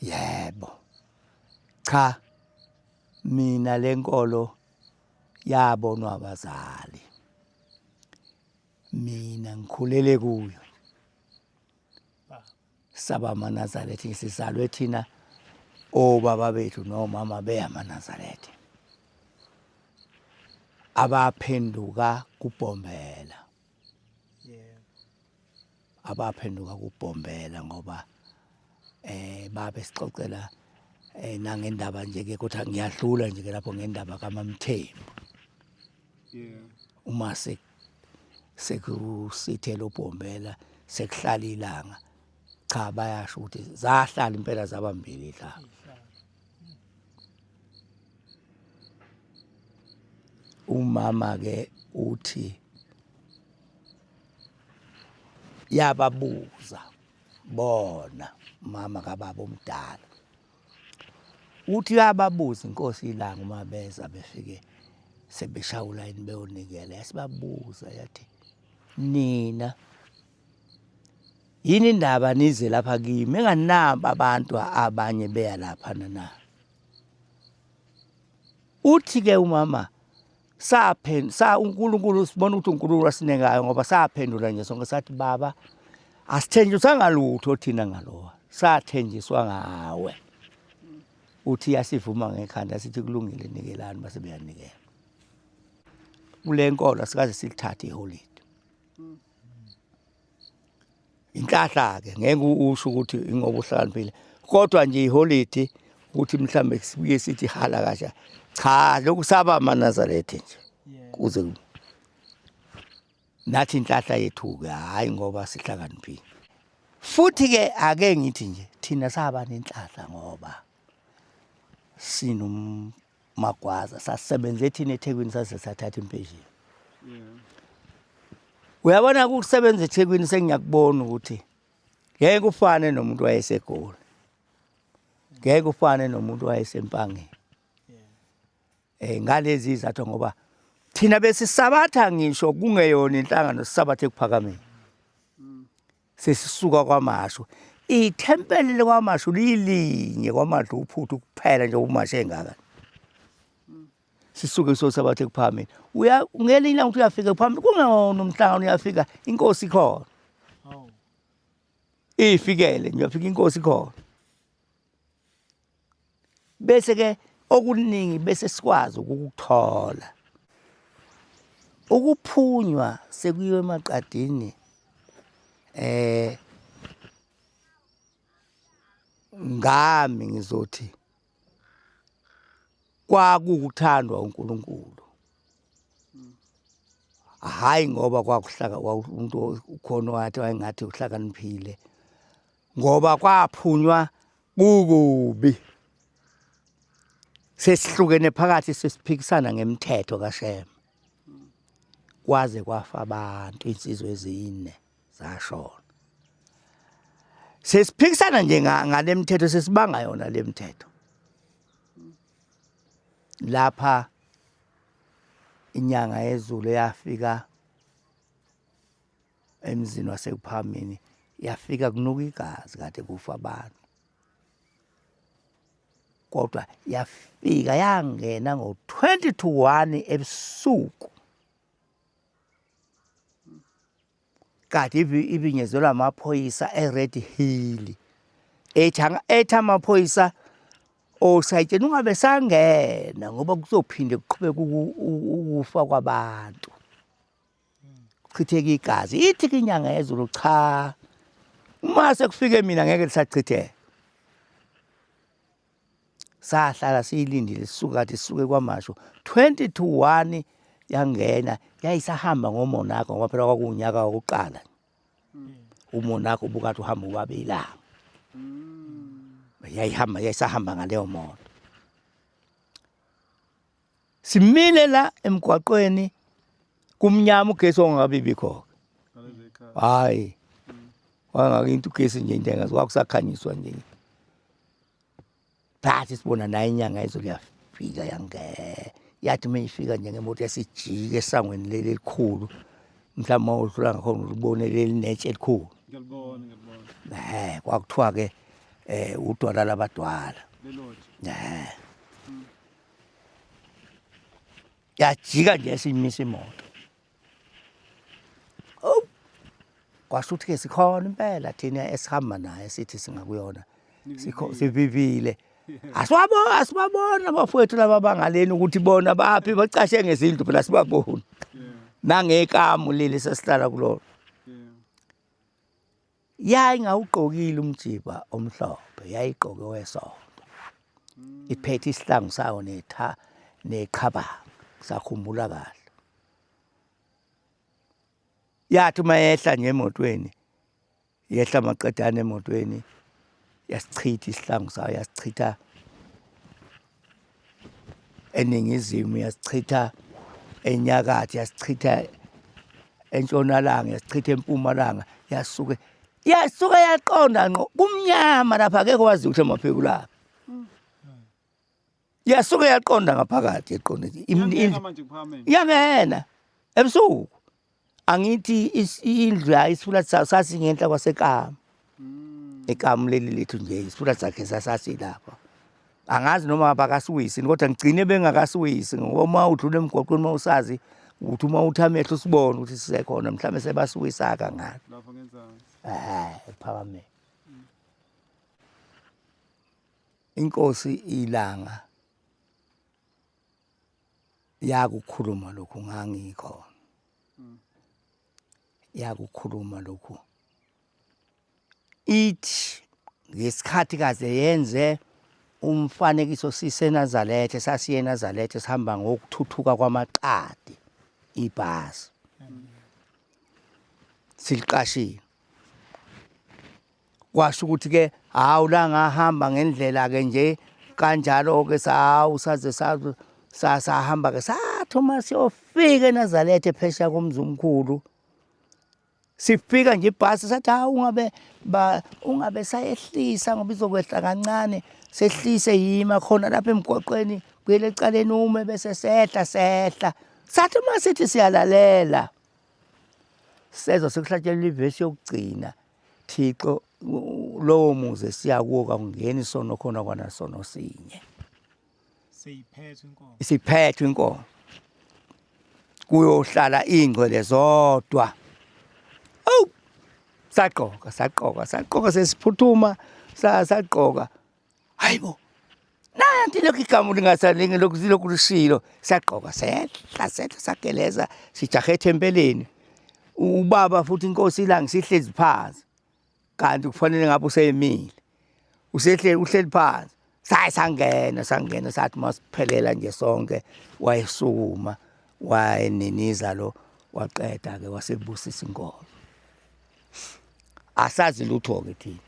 Yebo. Cha. Mina lenkolo yabonwa abazali. Mina ngikhulele kuyo. Saba manazarethi sizalwe thina obaba bethu nomama beyamanazarethe. Abaphenduka kubhombela. abaphenduka kubhombela ngoba eh babe sixoxela eh nangendaba nje ke kodwa ngiyahlula nje ke lapho ngendaba kaMamthembu yeah uma se sekusithela ubhombela sekuhlala ilanga cha bayasho ukuthi zahlala impela zabambili la umama ke uthi yababuza bona mama kababa omdala uthi yababuza inkosi ilanga uma beza befike sebeshawula yini beyonikela yasibabuza yathi nina yini indaba nize lapha kimi enganaba abantu abanye beya lapha na uthi ke umama saphendula sa uNkulunkulu sibona ukuthi uNkulunkulu wasinengayo ngoba saphendula nje sonke sathi baba asithenjisanga lutho thina ngalowa sathenjiswa ngawe uthi yasivuma ngekhanda sithi kulungile nikelani base beyanikela kule nkolo asikaze silithathe iholide inhlahla-ke ngeke usho ukuthi ingoba uhlakaniphile kodwa nje iholidi ukuthi mhlawumbe sibuye sithi hala kasha cha lokhu saba amanazaretha nje kuze nathi inhlahla yethu-ke hhayi ngoba sihlakaniphile futhi-ke ake ngithi nje thina saba nenhlahla ngoba sinom magwaza sasebenza ethini ethekwini saze sathatha impesheni uyabona kukusebenza ethekwini sengiyakubona ukuthi ngeke kufane nomuntu wayesegoli ngeke kufane nomuntu wayesempangeni eh ngalezi izathu ngoba thina besisabatha ngisho kungeyona inhlangano sisabathe kuphakameni sesisuka kwamashu ithempeli likwamashu liyilinye kwamashu uphuthu kuphela nje umashu engaka sisuke sosabathe kuphambili uya ngelinye ilanga ukuthi uyafika kuphambili kungona umhlangano uyafika inkosi ikhona iyifikele nje uyafika inkosi ikhona bese ke okuningi bese sikwazi ukukuthola ukuphunywa sekuyiwe emaqadini eh ngami ngizothi kwakukuthandwa uNkulunkulu hayi ngoba kwakuhlaka umuntu ukhona wathi wayengathi uhlakaniphile ngoba kwaphunywa kukubi sesihlukene phakathi sesiphikisana ngemthetho kaShem kwaze kwafa abantu insizwe ezine zashona sesiphikisana nje ngale mthetho sesibanga yona le mthetho lapha inyanga yezulu yafika emzini wasekuphamini yafika kunuka igazi kade kufa abantu kodwa yafika yangena ngo-20 to 1 ebusuku kade ibinyezelwa amaphoyisa e-red hill ethi amaphoyisa osayitsheni ungabe sangena ngoba kuzophinde kuqhubeka ukufa kwabantu kuchitheka igazi ithi ke inyanga yezulu cha uma sekufike mina ngeke lisachitheka sahlala siyilindile sisuke kade sisuke kwamasho 20 to 1 yangena yayisahamba ngomonakho ngoba phela kwakuwunyaka wokuqala hmm. umonakho ubukade uhamba ubabe ilanga hmm. yayihamba yayisahamba ngaleyo moto simile la emgwaqweni kumnyama ugesi ongakabibikho hayi wangake into ugesi nje into engazi kwakusakhanyiswa nje phathi sibona naye inyanga yezo liyafika yange yathi uma ifika nje ngemoto yasijike esangweni leli elikhulu mhlawumbe uma udlula ngakhona ulibone leli netshe elikhulu um kwakuthiwa-ke um udwala labadwala um yajika nje simisa imoto oh kwasho ukuthi ke sikhona impela thina esihamba naye sithi singakuyona sikho sivivile asiwabo asibabona abafowethu laba bangaleni ukuthi bona baphi bacashe ngezindlu phela sibabona nangekamu leli sesihlala kulona yayingawugqokile umjiba omhlophe yayigqoke wesonto iphethe isihlangu sayo netha neqhabanga sakhumbula kahle yathi uma yehla nje emotweni yehla maqedane emotweni yasichitha isihlangu sayo yasichitha eningizimu yasichitha enyakatho yasichitha entshonalanga yasichitha empumalanga yasuke yasuke yaqonda ngqo kumnyama lapha akekho wazi ukuthi amaphiko lapha yasuke yaqonda ngaphakathi eqonde yangena ebusuku angithi indlu yayo isifula sasingenhla kwasekamu hmm. ekamu leli lethu nje isifula sakhe sasasilapha angazi noma bakasiwisini kodwa ngigcine bengakasiwisi ngoba uma udlula emgwaqweni uma usazi ukuthi uma uthi amehlo usibone ukuthi sisekhona mhlawumbe sebasiwisa kangaka lapho ngenzansi eh phakame hmm. inkosi ilanga yakukhuluma lokhu ngangikhona mm. yakukhuluma lokhu ithi ngesikhathi kaze yenze umfanekiso siseNazaretha sasiye eNazaretha sihamba ngokuthuthuka kwamaqadi ibhasi siliqashile kwasho ukuthi ke hawu la ngahamba ngendlela ke nje kanjalo ke sawu saze sasahamba ke sathoma siyofika eNazaretha ephesha komzumkhulu sifika nje ibhasi sathi ha ungabe ba ungabe sayehlisa ngoba izokwehla kancane sehlise yima khona lapha emgwaqweni kuyele ecaleni ume bese sehla sehla sathi uma sithi siyalalela sezo sekuhlatshelwa ivesi yokugcina Thixo lowo muze siya kuwo kakungeni isono khona kwana sono sinye siyiphethwe inkomo isiphethwe inkomo kuyohlala ingcwele zodwa awu sagqoka sagqoka sagqoka sesiphuthuma sagqoka Hayibo. Naya nti lokhu igama lingasalingi lokhu zilokhu lishilo sagqoka sehla sehla sageleza sijahe ethempeleni. Ubaba futhi inkosi ilangi sihlezi phansi. Kanti kufanele ngabe useyimile. Usehle uhleli phansi. Saye sangena sangena sathi masiphelela nje sonke wayesukuma wayeniniza lo waqeda ke wasebusisa inkolo. asazi lutho-ke thina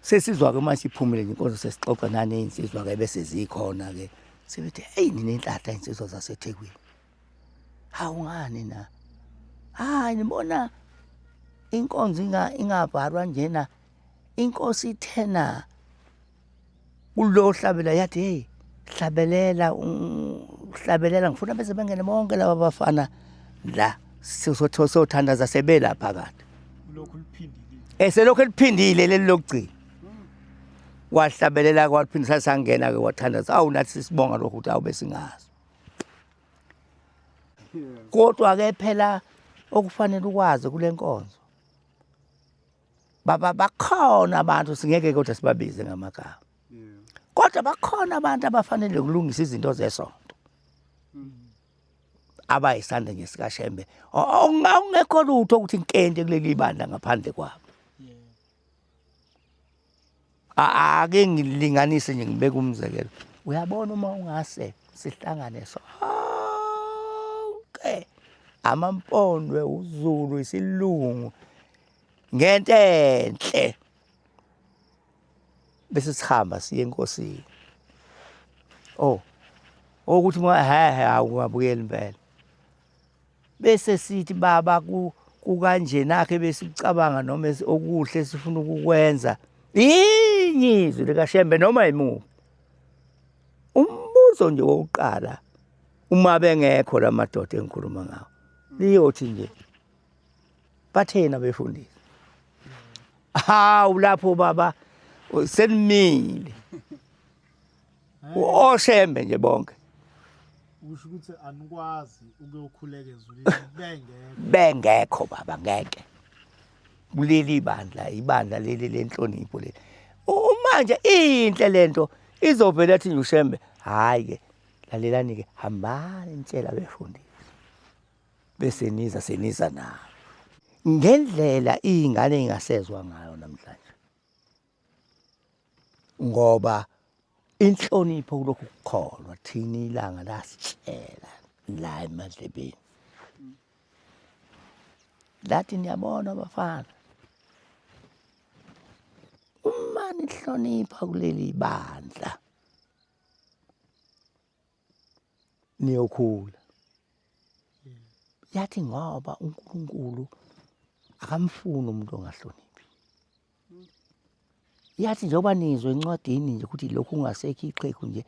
sesizwa-ke uma siphumile ngenkonzo sesixoxa naney'nsizwa-ke bese zikhona-ke sebethi eyi ninenhlahla iy'nsizwa zasethekwini hawu ngani na hayi nibona inkonzo ingavarwa njena inkosi ithena kulo hlabela yathi hey hlabelela hlabelela ngifuna bese bengene bonke laba bafana la sothandaza sebela phakathi lokhu liphindile eselokhu eliphindile leli lokugcina wahlabelela kwaphinde sasangena ke wathandaza awu nathi sisibonga lokho ukuthi awube singazi kodwa ke phela okufanele ukwazi kule nkonzo baba bakhona abantu singeke kodwa sibabize ngamagama kodwa bakhona abantu abafanele ukulungisa izinto zesonto abayisande nje sikashembe ongekho lutho ukuthi inkente kuleli bandla ngaphandle kwabo ake ngilinganise nje ngibeke umzekelo uyabona uma ungase sihlangane sonke amampondwe uzulu isilungu ngento enhle bese sihamba siye enkosini oh ukuthi hehe awungabukeli impela bese sithi baba kukanjenakhe besikucabanga noma okuhle esifuna ukukwenza inyizwi likashembe noma yimuphi umbuzo nje wokuqala uma bengekho la madoda engikhuluma ngawo liyothi nje bathena befundisi hawu lapho baba senimile Oshembe nje bonke. Usho ukuthi anikwazi ukuyokhuleka ezulwini bengekho. Bengekho baba ngeke. Kuleli ibandla, ibandla leli lenhlonipho leli. Manje inhle lento izovela athi nje ushembe hayi ke lalelani ke hambani nitshela befundisi. Bese niza seniza nayo. Ngendlela izingane ingasezwa ngayo namhlanje. ngoba inhlonipho kulokhu kukholwa thina ilanga lasitshela la emadlebeni lathi niyabona bafana uma nihlonipha kuleli bandla niyokhula yathi ngoba uNkulunkulu akamfuni umuntu ongahloniphi yathi njengoba nizwe encwadini nje ukuthi lokhu ungasekho iqhegu nje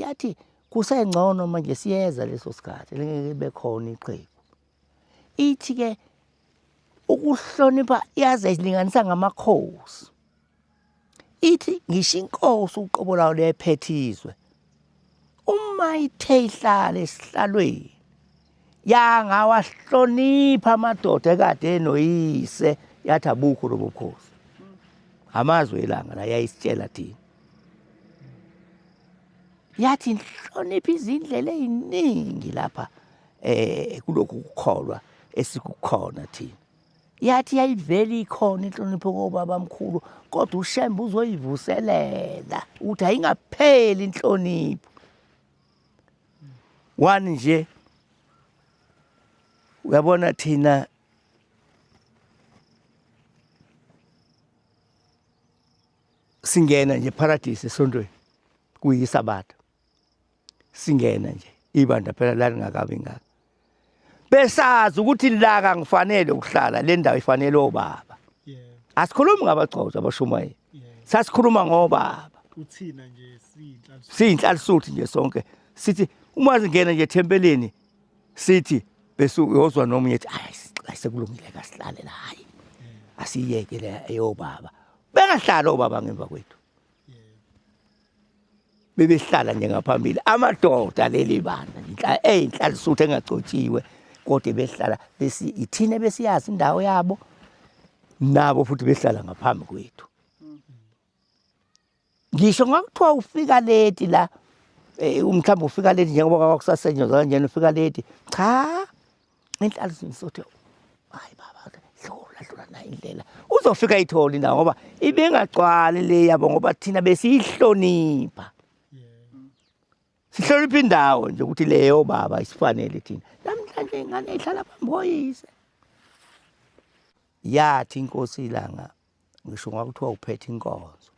yathi kusengcono manje siyeza leso sikhathi lengeke bekhona iqhegu ithi-ke ukuhlonipha yaze ilinganisa ngamakhosi ithi ngisho inkosi uqobo lawo lephethizwe uma ithe ihlala esihlalweni yangawahlonipha amadoda ekade enoyise yathi abukho lo bukhosi amazwi elanga la yayisitshela thina yathi nhlonipha izindlela eziningi lapha eh kulokhu kukholwa esikukhona thina yathi yayivele ikhona inhlonipho kobaba mkhulu kodwa ushembe uzoyivuselela ukuthi ayingapheli inhlonipho one nje uyabona thina singena nje paradise esontweni kuyisabatha singena nje ibandla phela lalingakabi ngaka besazi ukuthi la kangifanele ukuhlala le ndawo ifanele obaba asikhulumi ngabagcotshwa abashumayeli sasikhuluma ngobaba uthina nje siyinhlalisuthi nje sonke sithi uma singena nje ethempelini sithi bese uyozwa nomunye ethi ayi sekulungile kasihlale la hayi asiyeke le eyobaba bengahlala obaba ngemva kwethu bebehlala nje ngaphambili amadoda leli banda inhla eyinhlalisuthu engagcotshiwe kodwa behlala besi ithina besiyazi indawo yabo nabo futhi behlala ngaphambi kwethu ngisho ngakuthiwa ufika late la eh, umhlawumbe ufika late njengoba kwakusasetshenzwa kanjena ufika late cha inhlalo zimsothe hayi baba dlula dlula nayo indlela uzofika ayithole indawo ngoba ibingagcwali le yabo ngoba thina besiyihlonipha sihlonipha indawo nje ukuthi leyo baba isifanele thina namhlanje ingane ihlala phambi koyise yathi inkosi ilanga ngisho ngakuthiwa uphethe inkonzo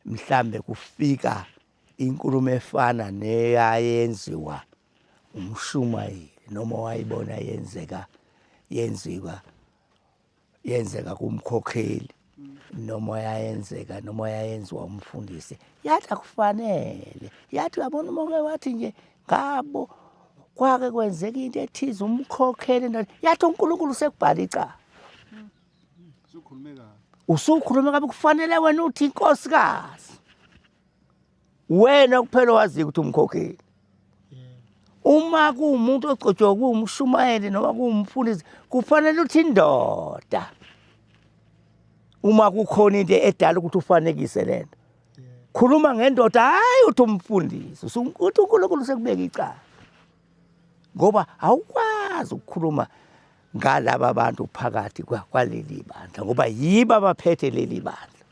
mhlambe kufika inkulumo efana neyayenziwa umshumayeli noma wayibona yenzeka yenziwa yenzeka kumkhokheli noma yayenzeka noma yayenziwa umfundisi yathi akufanele yathi uyabona uma uke wathi nje ngabo kwake kwenzeka into ethize umkhokhele ndani yathi uNkulunkulu sekubhala icala usukhulumeka usukhuluma kabi kufanele wena uthi inkosikazi wena kuphela wazi ukuthi umkhokheli uma kuwumuntu ogcotshwa kuwumshumayeli noma kuwumfundisi kufanele uthi indoda uma kukhona into edala ukuthi ufanekise lento khuluma ngendoda hayi uthi umfundisi uthi uNkulunkulu usekubeka icala ngoba awukwazi ukukhuluma ngalaba bantu phakathi kwaleli bandla ngoba yibo abaphethe leli bandla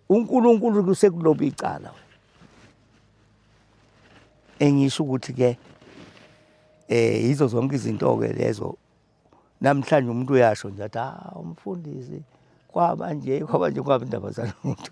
uNkulunkulu kusekuloba icala wena engisho ukuthi ke eh yizo zonke izinto ke lezo namhlanje umuntu uyasho nje athi ah umfundisi kwaba nje kwaba nje kwaba indaba zalomuntu